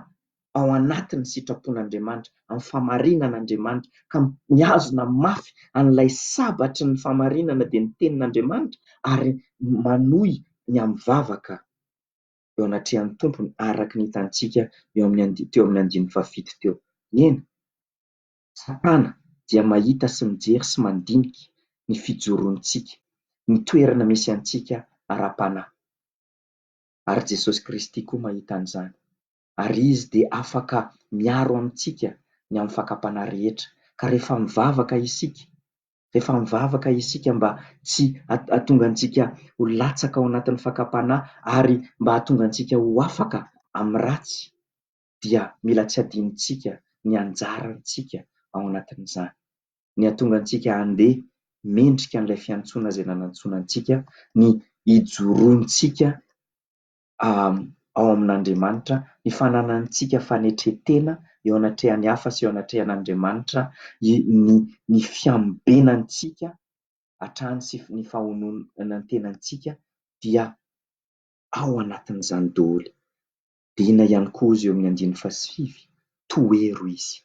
ao anatin'ny sitrapon'Andriamanitra, amin'ny fahamarinan'Andriamanitra, ka mihazona mafy an'ilay sabatry ny fahamarinana dia ny tenin'Andriamanitra ary manohy ny amin'ny vavaka. eo anatrehan'ny Tompony araka ny hitantsika eo amin'ny and teo amin'ny andininy fahafito teo. Eny, Satana dia mahita sy mijery sy mandinika ny fijoroantsika, ny toerana misy antsika ara-panahy. Ary Jesosy Kristy koa mahita an'izany, ary Izy dia afaka miaro amintsika ny amin'ny fakam-panahy rehetra. Ka rehefa mivavaka isika, Rehefa mivavaka isika mba tsy hahatonga antsika ho latsaka ao anatin'ny fakam-panahy ary mba hahatonga antsika ho afaka amin'ny ratsy dia mila tsy adinontsika ny anjarantsika ao anatin'izany. Ny hahatonga antsika handeha mendrika an'ilay fiantsoana izay nanantsoina antsika ny hijoroantsika ao amin'Andriamanitra, ny fananantsika fanetren-tena eo anatrehan'ny hafa sy eo anatrehan'Andriamanitra, ny fiambenantsika hatrany sy ny fahononan-tenantsika dia ao anatin'izany daholo. Dina ihany koa izy eo amin'ny andininy fahasivy, tohero izy,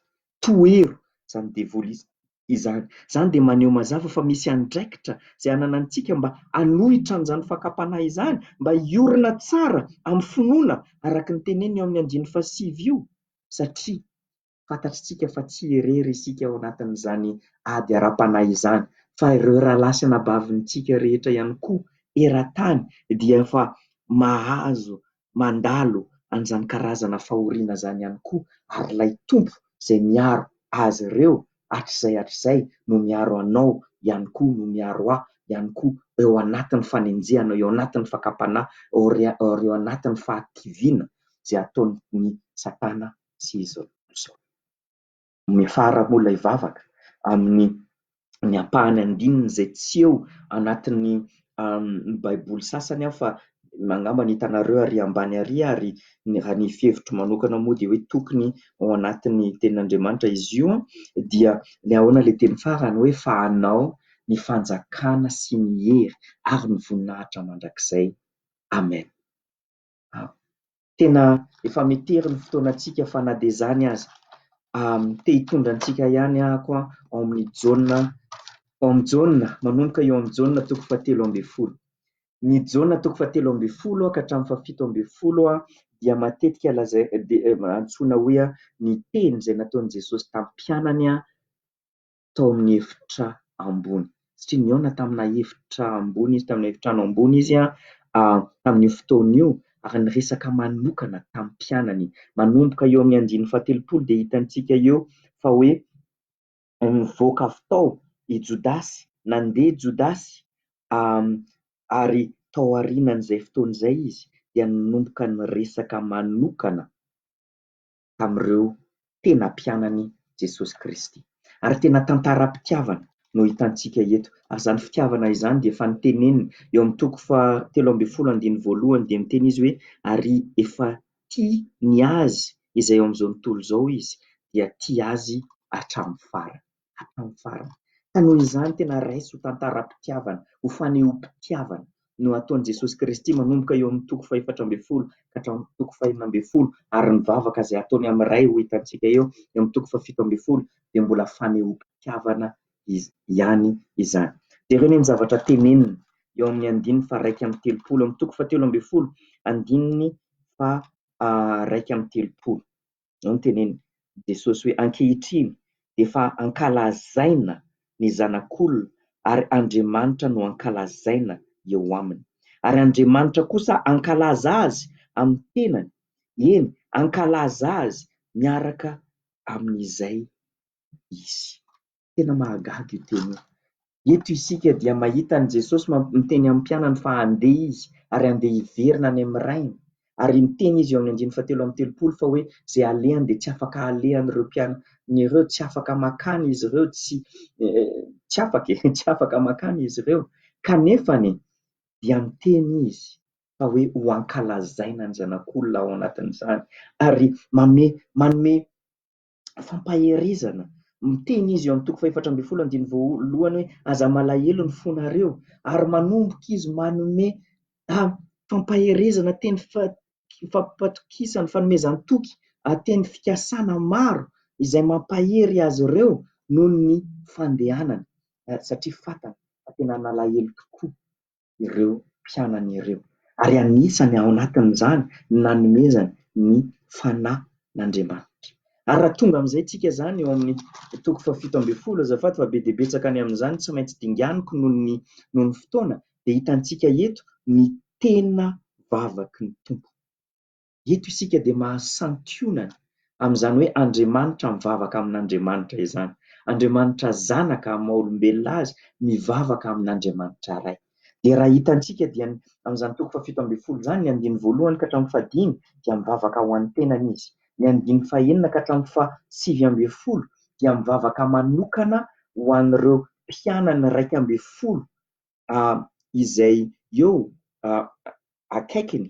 tohero izany devoly izany. izany. Izany dia maneho mazava fa misy andraikitra izay ananantsika mba hanohitra an'izany fakam-panahy izany, mba hiorina tsara amin'ny finoana araka ny teneniny eo amin'ny andininy fahasivy io, satria fantatritsika fa tsy irery isika ao anatin'izany ady ara-panahy izany, fa ireo rahalahy sy anabavintsika rehetra ihany koa eran-tany dia efa mahazo mandalo an'izany karazana fahoriana izany ihany koa ary ilay Tompo izay miaro azy ireo hatrizay hatrizay no miaro anao ihany koa no miaro ahy ihany koa eo anatin'ny fanenjehana eo anatin'ny fakam-panahy ary eo anatin'ny fahadiviana izay ataon'ny satana sy izy ireo. Miafara moa ilay vavaka amin'ny ny ampahany andininy izay tsy eo anatin'ny baiboly sasany aho fa angamba ny hitanareo ary ambany ary ary raha ny fihevitro manokana moa dia hoe tokony ao anatin'ny tenin'Andriamanitra izy io dia ny ahoana ilay teny farany hoe fa anao ny fanjakana sy ny hery ary ny voninahitra mandrakizay amen tena efa metery ny fotoanantsika fa na dia izany aza te hitondra antsika ihany ako ao amin'ny jaona ao amin'ny jaona manomboka eo amin'ny jaona toko fa telo amby folo ny jaona toko fa telo amby folo aho ka hatramin'ny fa fito amby folo aho dia matetika lazay dia antsoina hoy aho ny teny izay nataon'i jesosy tam-pianany aho tao amin'ny efitra ambony satria nihaona tamina efitra ambony izy, tamina efitrano ambony izy tamin'io fotoana io ary niresaka manokana tamin'ny mpianany. Manomboka eo amin'ny andininy fahatelopolo dia hitantsika eo fa hoe nivoaka avy tao i Jodasy, nandeha i Jodasy ary tao aorianan'izay fotoana izay izy dia nanomboka niresaka manokana. tamin'ireo tena mpianany Jesosy Kristy. Ary tena tantaram-pitiavana no hitantsika eto. Ary izany fitiavana izany dia efa noteneniny eo amin'ny toko fahatelo ambin'ny folo andininy voalohany dia niteny izy hoe ary efa tia ny azy izay eo amin'izao tontolo izao izy dia tia azy hatramin'ny farany. hatramin'ny farany. Ka noho izany, tena raiso ho tantaram-pitiavana, ho fanehoam-pitiavana no ataon'i Jesosy Kristy manomboka eo amin'ny toko fahefatra ambin'ny folo ka hatramin'ny toko fahenina ambin'ny folo, ary ny vavaka izay ataony amin'ny Ray ho hitantsika eo amin'ny toko fahafito ambin'ny folo dia mbola fanehoam-pitiavana ihany izany. Jereo anie ny zavatra teneniny eo amin'ny andininy faharaika amby telopolo, amin'ny toko fahatelo ambin'ny folo, andininy faharaika amby telopolo. no nitenen'i Jesosy hoe, Ankehitriny dia efa ankalazaina ny Zanak'olona, ary Andriamanitra no ankalazaina eo aminy. Ary Andriamanitra kosa hankalaza azy amin'ny tenany, eny, hankalaza azy miaraka amin'izay izy. Tena mahagaga io teny io. Eto isika dia mahita an'i Jesosy miteny amin'ny mpianany fa handeha izy ary handeha hiverina any amin'ny Rainy. Ary miteny izy eo amin'ny andininy fahatelo amby telopolo fa hoe izay alehany dia tsy afaka alehan'ireo mpianany ireo, tsy afaka makany izy ireo, tsy tsy afaka e, tsy afaka makany izy ireo. Kanefa anie dia miteny izy fa hoe ho ankalazaina ny Zanak'olona ao anatin'izany ary manome manome fampaherezana. Miteny izy eo amin'ny toko fahefatra ambin'ny folo andininy voalohany hoe, Aza malahelo ny fonareo, ary manomboka izy manome fampaherezana teny fampatokisana, fanomezan-toky teny fikasana maro izay mampahery azy ireo noho ny fandehanany, satria fantany fa tena nalahelo tokoa. ireo mpianany ireo, ary anisany ao anatin'izany ny nanomezany ny Fanahy n'Andriamanitra. Ary raha tonga amin'izay tsika izany eo amin'ny toko fahafito ambin'ny folo, azafady fa be dia betsaka ny amin'izany tsy maintsy dinganiko noho ny noho ny fotoana, dia hitantsika eto ny tena vavaky ny Tompo. Eto isika dia mahasantionana amin'izany hoe Andriamanitra mivavaka amin'Andriamanitra izany. Andriamanitra Zanaka amin'ny maha-olombelona Azy mivavaka amin'Andriamanitra Ray. Dia raha hitantsika dia ny amin'izany toko fahafito ambin'ny folo izany, ny andininy voalohany ka hatramin'ny fahadimy dia mivavaka ho an'ny tenany Izy. Ny andininy fahenina ka hatramin'ny fahasivy ambin'ny folo dia mivavaka manokana ho an'ireo mpianany iraika ambin'ny folo izay eo akaikiny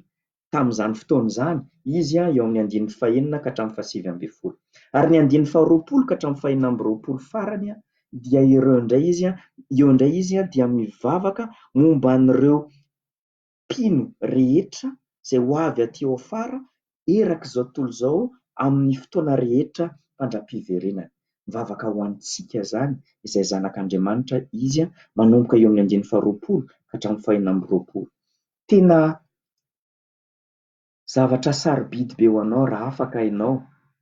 tamin'izany fotoana izany, izy eo amin'ny andininy fahenina ka hatramin'ny fahasivy ambin'ny folo. Ary ny andininy faharoapolo ka hatramin'ny fahenina amby roapolo farany dia ireo indray izy, eo indray izy dia mivavaka momba an'ireo mpino rehetra izay ho avy aty ao afara erak'izao tontolo izao amin'ny fotoana rehetra fandram-piverenany. Mivavaka ho antsika izany izay zanak'Andriamanitra izy manomboka eo amin'ny andininy faharoapolo ka hatramin'ny fahenina amby roapolo. Tena zavatra sarobidy be ho anao raha afaka ianao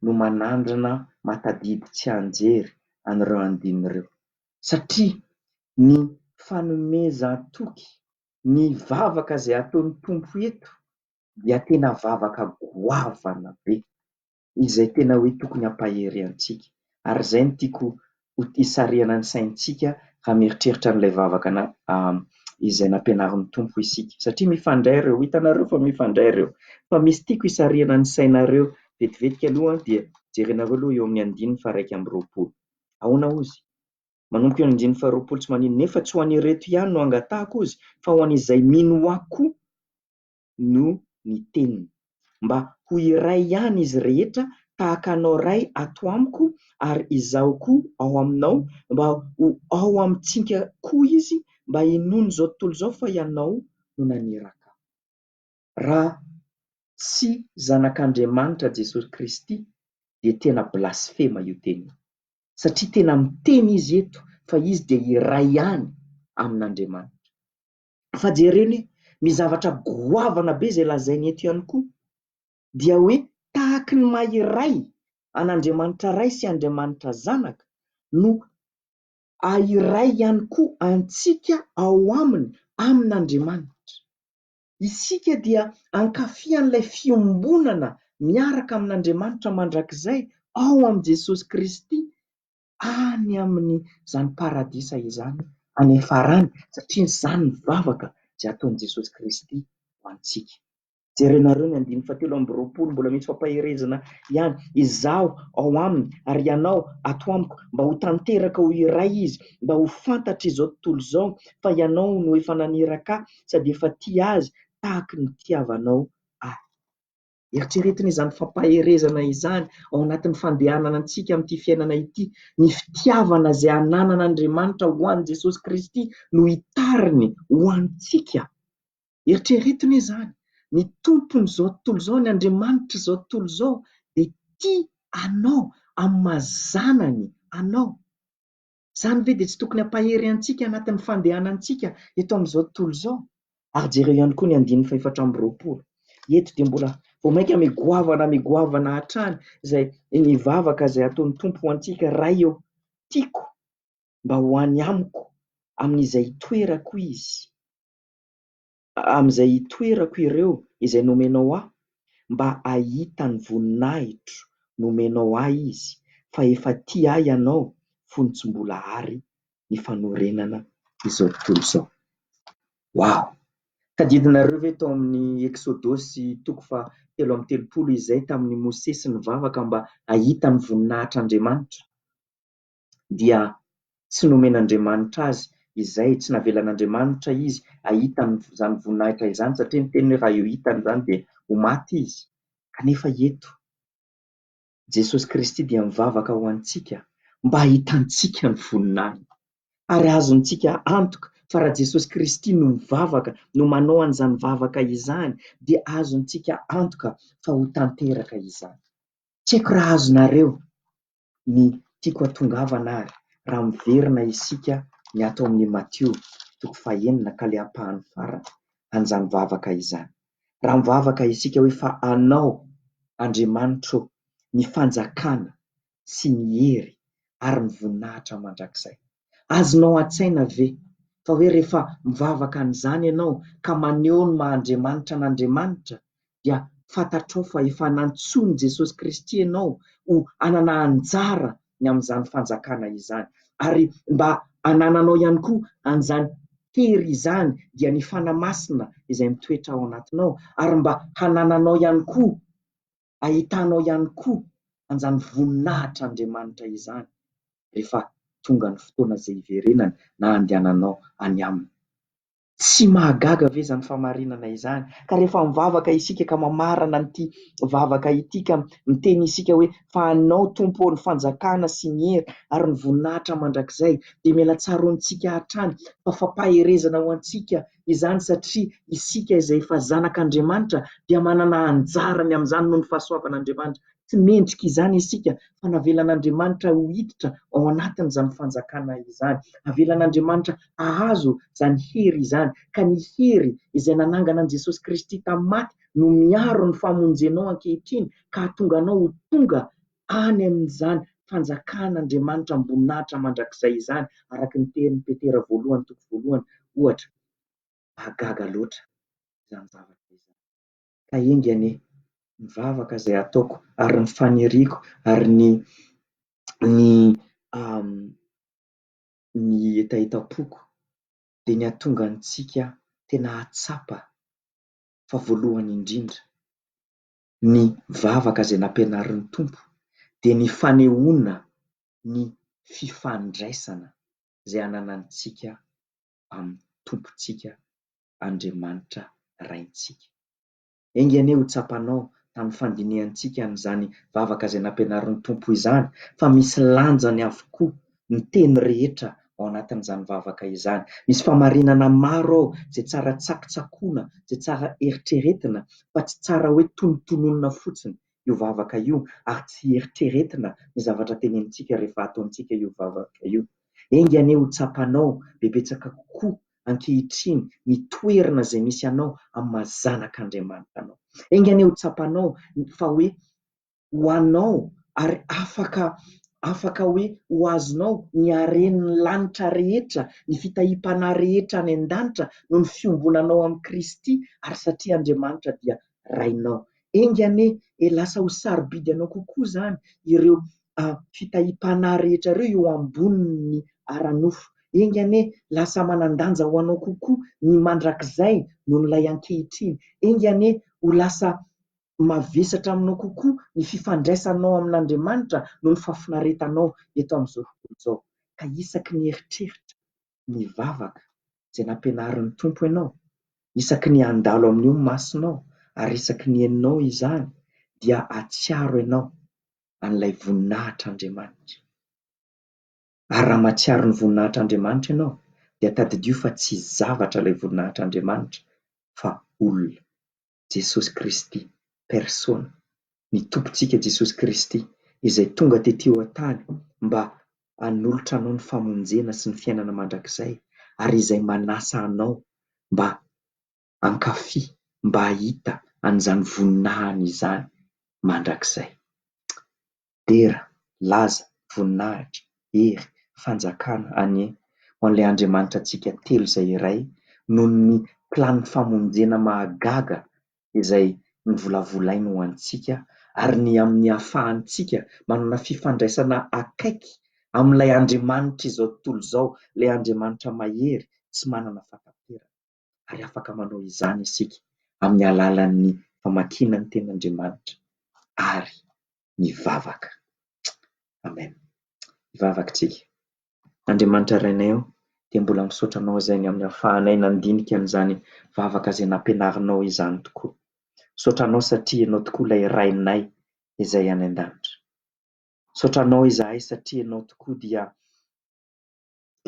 no manandrana matadidy tsianjery an'ireo andininy ireo satria ny fanomezan-toky ny vavaka izay ataon'ny Tompo eto dia tena vavaka goavana be, izay tena hoe tokony hampahery antsika. Ary izay no tiako hisarihana ny saintsika raha mieritreritra an'ilay vavaka izay nampianarin'ny Tompo isika. Satria mifandray ireo, hitanareo fa mifandray ireo. Fa misy tiako hisarihana ny sainareo vetivetika aloha dia jerenareo aloha eo amin'ny andininy faha iraika amby roapolo. Ahoana hozy? Manomboka eo amin'ny andininy faharoapolo tsy maninona, nefa tsy ho an'ireto ihany no angatahako ozy, fa ho an'izay mino Ahy koa no ny teniny, mba ho iray ihany izy rehetra, tahaka Anao Ray ato amiko ary Izaho koa ao aminao, mba ho ao amintsika koa izy, mba hinoany izao tontolo izao fa Ianao no naniraka Ahy. Raha tsy zanak'Andriamanitra Jesosy Kristy dia tena blasfema io teny io. Satria tena miteny izy eto fa izy dia iray ihany amin'Andriamanitra. Fa jereo anie ny zavatra goavana be izay lazainy eto ihany koa dia hoe tahaky ny maha iray an'Andriamanitra Ray sy Andriamanitra Zanaka no ahiray ihany koa antsika ao aminy amin'Andriamanitra. Isika dia hankafy an'ilay fiombonana miaraka amin'Andriamanitra mandrakizay ao amin'i Jesosy Kristy any amin'izany paradisa izany any farany, satria izany ny vavaka izay ataon'i Jesosy Kristy ho antsika. Jerenareo ny andininy fahatelo amby roapolo, mbola misy fampaherezana ihany, Izaho ao aminy ary ianao ato amiko, mba ho tanteraka ho iray izy, mba ho fantatr'izao tontolo izao fa ianao no efa naniraka ahy, sady efa tia azy tahaka ny nitiavanao ahy. Eritreretina izany fampaherezana izany ao anatin'ny fandehanana antsika amin'ity fiainana ity. Ny fitiavana izay ananan'Andriamanitra ho an'i Jesosy Kristy no hitariny ho antsika. Eritreretino izany, ny Tompon'izao tontolo izao, ny Andriamanitr'izao tontolo izao dia tia anao amin'ny maha zanany anao. Izany ve dia tsy tokony hampahery antsika anatin'ny fandehanantsika eto amin'izao tontolo izao? Ary jereo ihany koa ny andininy fahefatra amby roapolo. Eto dia mbola vao mainka migoavana migoavana hatrany izay ny vavaka izay ataon'ny Tompo ho antsika, Ray ô, tiako mba ho any amiko amin'izay itoerako izy. Amin'izay hitoerako ireo izay nomenao aho, mba hahita ny voninahitro nomenao ahy izy, fa efa tia ahy ianao fony tsy mbola ary ny fanorenana izao tontolo izao. Wow! Tadidinareo ve tao amin'ny Eksodosy toko faha telo amby telopolo izay tamin'i Mosesy nivavaka mba hahita ny voninahitr'Andriamanitra? dia tsy nomen'Andriamanitra azy izay, tsy navelan'Andriamanitra izy hahita an'izany voninahitra izany satria niteny hoe raha hitany izany dia ho maty izy. Kanefa eto Jesosy Kristy dia mivavaka ho antsika mba hahitantsika ny voninahiny. Ary azontsika antoka fa raha Jesosy Kristy no mivavaka, no manao an'izany vavaka izany dia azontsika antoka fa ho tanteraka izany. Tsy haiko raha azonareo ny tiako hatongavana ary raha miverina isika ny ato amin'ny Matio toko fahenina ka ilay ampahany farany an'izany vavaka izany. Raha mivavaka isika hoe fa anao Andriamanitro ô ny fanjakana sy ny hery ary ny voninahitra mandrakizay. Azonao an-tsaina ve fa hoe rehefa mivavaka an'izany ianao ka maneho ny maha Andriamanitra an'Andriamanitra dia fantatrao fa efa nantsoin'i Jesosy Kristy ianao ho hanana anjara ny amin'izany fanjakana izany ary mba hanananao ihany koa an'izany hery izany dia ny Fanahy Masina izay mitoetra ao anatinao ary mba hanananao ihany koa ahitanao ihany koa an'izany voninahitr'Andriamanitra izany rehefa tonga ny fotoana izay hiverenany na handehananao any Aminy. Tsy mahagaga ve izany famarinana izany? Ka rehefa mivavaka isika ka mamarana an'ity vavaka ity ka miteny isika hoe, Fa Anao, Tompo ô, ny fanjakana sy ny hery ary ny voninahitra mandrakizay, dia mila tsaroantsika hatrany fa fampaherezana ho antsika izany satria isika izay efa zanak'Andriamanitra dia manana anjarany amin'izany noho ny fahasoavan'Andriamanitra. Tsy mendrika izany isika fa navelan'Andriamanitra ho hiditra ao anatin'izany fanjakana izany. Avelan'Andriamanitra hahazo izany hery izany ka ny hery izay nanangana an'i Jesosy Kristy tamin'ny maty no miaro ny famonjenao ankehitriny ka hahatonga anao ho tonga any amin'izany fanjakan'Andriamanitra am-boninahitra mandrakizay izany, araka ny tenin'i Petera voalohany toko voalohany, ohatra. Mahagaga loatra izany zavatra izany. Ka enga anie, ny vavaka izay ataoko ary ny faniriako ary ny ny ny hetahetam-poko dia ny hahatonga antsika tena hahatsapa fa voalohany indrindra ny vavaka izay nampianarin'ny Tompo dia ny fanehoana ny fifandraisana izay ananantsika amin'ny Tompontsika Andriamanitra Raintsika. Enga anie ho tsapanao tamin'ny fandinihantsika an'izany vavaka izay nampianarin'ny Tompo izany fa misy lanjany avokoa ny teny rehetra ao anatin'izany vavaka izany. Misy famarinana maro ao izay tsara tsakotsakoina, izay tsara eritreretina fa tsy tsara hoe tonontononina fotsiny io vavaka io ary tsy eritreretina ny zavatra tenenintsika rehefa ataontsika io vavaka io. Enga anie ho tsapanao bebetsaka kokoa ankehitriny ny toerana izay misy anao amin'ny maha zanak'Andriamanitra anao. Enga anie ho tsapanao fa hoe ho anao ary afaka afaka hoe ho azonao ny haren'ny lanitra rehetra, ny fitahiam-panahy rehetra any an-danitra noho ny fiombonanao amin'i Kristy ary satria Andriamanitra dia Rainao. Enga anie e lasa ho sarobidy anao kokoa izany ireo fitahiam-panahy rehetra ireo eo ambonin'ny ara-nofo. Enga anie lasa manan-danja ho anao kokoa ny mandrakizay noho ilay ankehitriny. Enga anie ho lasa mavesatra aminao kokoa ny fifandraisanao amin'Andriamanitra noho ny fahafinaretanao eto amin'izao tontolo izao, ka isaky ny eritreritra ny vavaka izay nampianarin'ny Tompo ianao, isaky ny handalo amin'io ny masonao, ary isaky ny henonao izany, dia hahatsiaro ianao an'ilay voninahitr'Andriamanitra. Ary raha mahatsiaro ny voninahitr'Andriamanitra ianao, dia tadidio fa tsy zavatra ilay voninahitr'Andriamanitra fa olona. Jesosy Kristy persona, ny Tompontsika Jesosy Kristy izay tonga tety eo an-tany mba hanolotra anao ny famonjena sy ny fiainana mandrakizay ary izay manasa anao mba hankafy, mba hahita an'izany voninahiny izany mandrakizay. Dera, laza, voninahitra, hery, fanjakana anie ho an'ilay Andriamanitra antsika telo izay iray noho ny planiny famonjena mahagaga izay novolavolainy ho antsika ary ny amin'ny ahafahantsika manana fifandraisana akaiky amin'ilay Andriamanitr'izao tontolo izao, ilay Andriamanitra mahery, tsy manana fahataperana. ary afaka manao izany isika amin'ny alalan'ny famakiana ny Tenin'Andriamanitra ary mivavaka. Amen. Hivavaka isika. Andriamanitra Rainay ô, dia mbola misaotra Anao izay ny amin'ny ahafahanay nandinika an'izany vavaka izay nampianarinao izany tokoa. Misaotra Anao satria Ianao tokoa ilay Rainay izay any an-danitra. Misaotra Anao izahay satria Ianao tokoa dia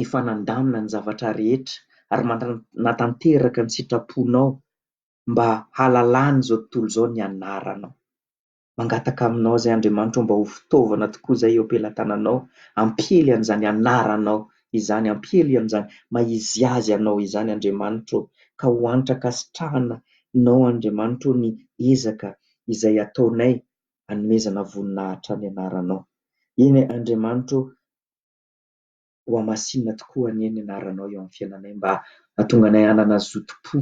efa nandamina ny zavatra rehetra ary manatanteraka ny sitraponao mba hahalalan'izao tontolo izao ny anaranao. Mangataka aminao izay Andriamanitra ô mba ho fitaovana tokoa izay eo am-pelatananao hampiely an'izany anaranao izany, hampiely an'izany maha izy azy anao izany Andriamanitra ô, ka ho hanitra ankasitrahanao Andriamanitra ô ny ezaka izay ataonay hanomezana voninahitra ny anaranao. Eny Andriamanitra ô, ho hamasinina tokoa anie ny anaranao eo amin'ny fiainanay mba hahatonga anay hanana zotom-po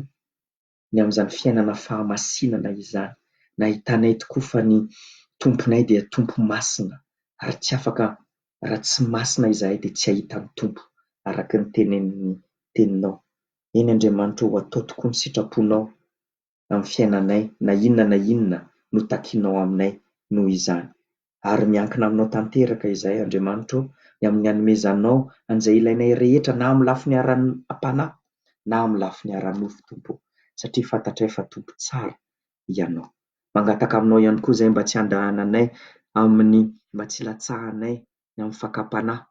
ny amin'izany fiainana fahamasinana izany, nahitanay tokoa fa ny Tomponay dia Tompo masina ary tsy afaka raha tsy masina izahay dia tsy hahita ny Tompo araka ny tenenin'ny Teninao, eny Andriamanitra ô atao tokoa ny sitraponao amin'ny fiainanay na inona na inona no takinao aminay noho izany. Ary miankina aminao tanteraka izahay, Andriamanitra ô, ny amin'ny hanomezanao an'izay ilainay rehetra na amin'ny lafiny ara-panahy na amin'ny lafiny ara-nofo, Tompo ô, satria fantatray fa Tompo tsara Ianao. Mangataka aminao ihany koa izahay mba tsy handrahananay amin'ny, mba tsy hilatsahanay ny amin'ny fakam-panahy.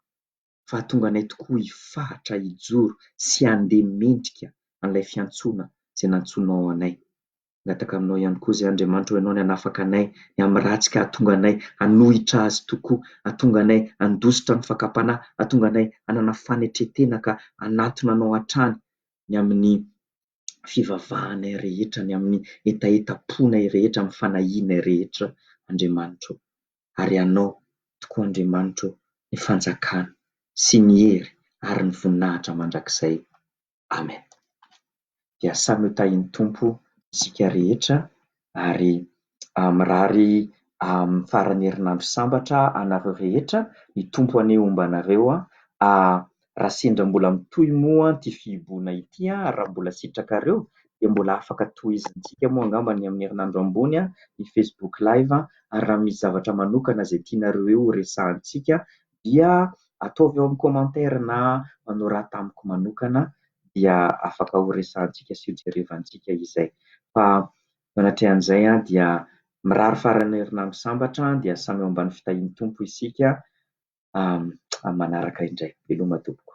fahatonga anay tokoa hifahatra hijoro sy handeha mendrika an'ilay fiantsoana izay nantsoinao anay. Mangataka aminao ihany koa izay Andriamanitra ho ianao ny hanafaka anay ny amin'ny ratsy ka hahatonga anay hanohitra Azy tokoa, hahatonga anay handositra ny fakam-panahy, hahatonga anay hanana fanetren-tena ka hanatona Anao hatrany ny amin'ny fivavahanay rehetra, ny amin'ny hetahetam-ponay rehetra, amin'ny fanahianay rehetra Andriamanitra o. ary Anao tokoa Andriamanitra ô ny fanjakana sy ny hery ary ny voninahitra mandrakizay Amen dia samy ho tahin'ny Tompo isika rehetra ary mirary faran'ny herinandro sambatra anareo rehetra ny Tompo anie homba anareo Raha sendra mbola mitohy moa ity fihibohana ity ary raha mbola sitrakareo dia mbola afaka tohizantsika moa angamba ny amin'ny herinandro ambony ny Facebook live ary raha misy zavatra manokana izay tianareo eo horesahantsika dia ataovy ao amin'ny commentaire na manorata amiko manokana dia afaka horesahantsika sy hojerevantsika izay. Fa manatrehan'izay dia mirary faran'ny herinandro sambatra dia samy eo ambany fitahian'ny Tompo isika amin'ny manaraka indray. Veloma tompoko.